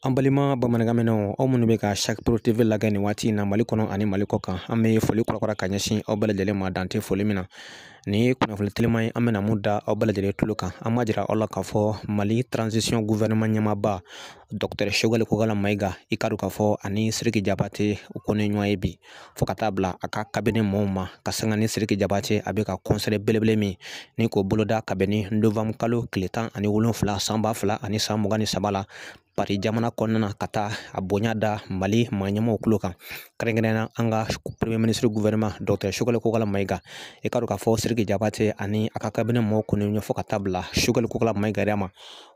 An balima bamanankanmɛnnaw aw minnu bɛ ka sari pro tv lajɛ nin waati in na mali kɔnɔ ani mali kɔ kan an bɛ foli kurakura ka ɲɛsin aw bɛɛ lajɛlen ma dan tɛ foli min na nin ye kunnafoni telima ye an bɛna min da aw bɛɛ lajɛlen tulo kan an b'a jira aw la k'a fɔ mali transition gouvernement ɲɛmaaba dɔktɛr sogɛli kokala mayiga i k'a dɔn k'a fɔ ani siriki jabate u kɔni ye ɲɔgɔn ye bi fo ka taa bila a ka kabinɛ mɔɔw ma ka sanga ni siriki jabate a bɛ ka kɔnsɛri belebele min ni k'o boloda kabini novambre kalo tile tan ani wolonfila san ba fila ani san mugan ni saba la pari jamana kɔnɔna na ka taa a bonya da mali maa ɲɛmaaw tulo kan kɛrɛnkɛrɛnna an ka premier ministre gouvernement dɔktɛr sogɛli kokala mayiga i k'a dɔn k'a fɔ siriki jabate ani a ka kabinɛ mɔɔw kɔni ɲɛfɔ ka taa bila sogɛli kokala mayiga ma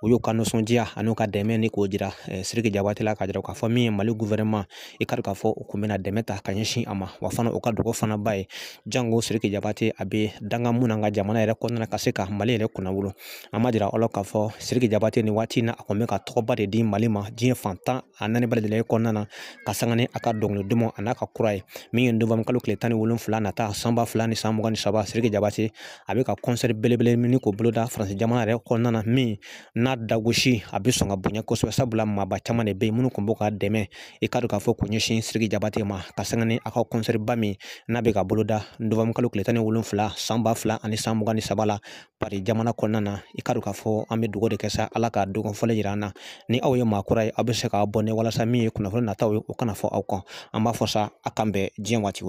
u y'u ka nisɔndiya an'u ka dɛmɛni k'o jira eh, siriki jabate la k'a jira k'a fɔ min ye mali guvɛrɛnman i ka k'a fɔ u kɔni bɛna dɛmɛ ta ka ɲɛsin a ma wa fana u ka dugawu fana b'a ye jango siriki jabate a bɛ danga min na ka jamana yɛrɛ kɔnɔna ka se ka mali yɛrɛ kunnawolo an b'a jira aw la k'a fɔ siriki jabate nin waati na a kɔni bɛ ka tɔgɔba de di mali ma diɲɛ fan tan ani naani bɛɛ lajɛlen kɔnɔna na ka sanga ni a ka dɔnkili duman an'a ka kura ye min ye novambre kalo tile tan ni wolonfila nata san ba fila ni san mugan ni saba siriki jabate a bɛ ka kɔnsɛri belebele nin in k'o boloda faransi jamana yɛrɛ kɔnɔna na min n'a dagosi a bɛ sɔn ka bonya kosɛbɛ sabula maaba caman de bɛ yen minnu tun b'u ka dɛmɛ i k'a dɔn k'a fɔ k'o ɲɛsin siriki jabate ma ka sanga ni a ka kɔnsɛriba min n'a bɛ k'a boloda novambre kalo tile tan ni wolonfila san ba fila ani san mugan ni saba la pari jamana kɔnɔna na i k'a dɔn k'a fɔ an bɛ dugawu de kɛ sa ala ka don kofɔlen jira an na ni aw ye maa kura ye aw bɛ se ka abɔne walasa min ye kunnafoni nataw ye o kana fɔ aw kɔ an b'a fɔ sa a k'an bɛn diɲɛ waati wɛrɛ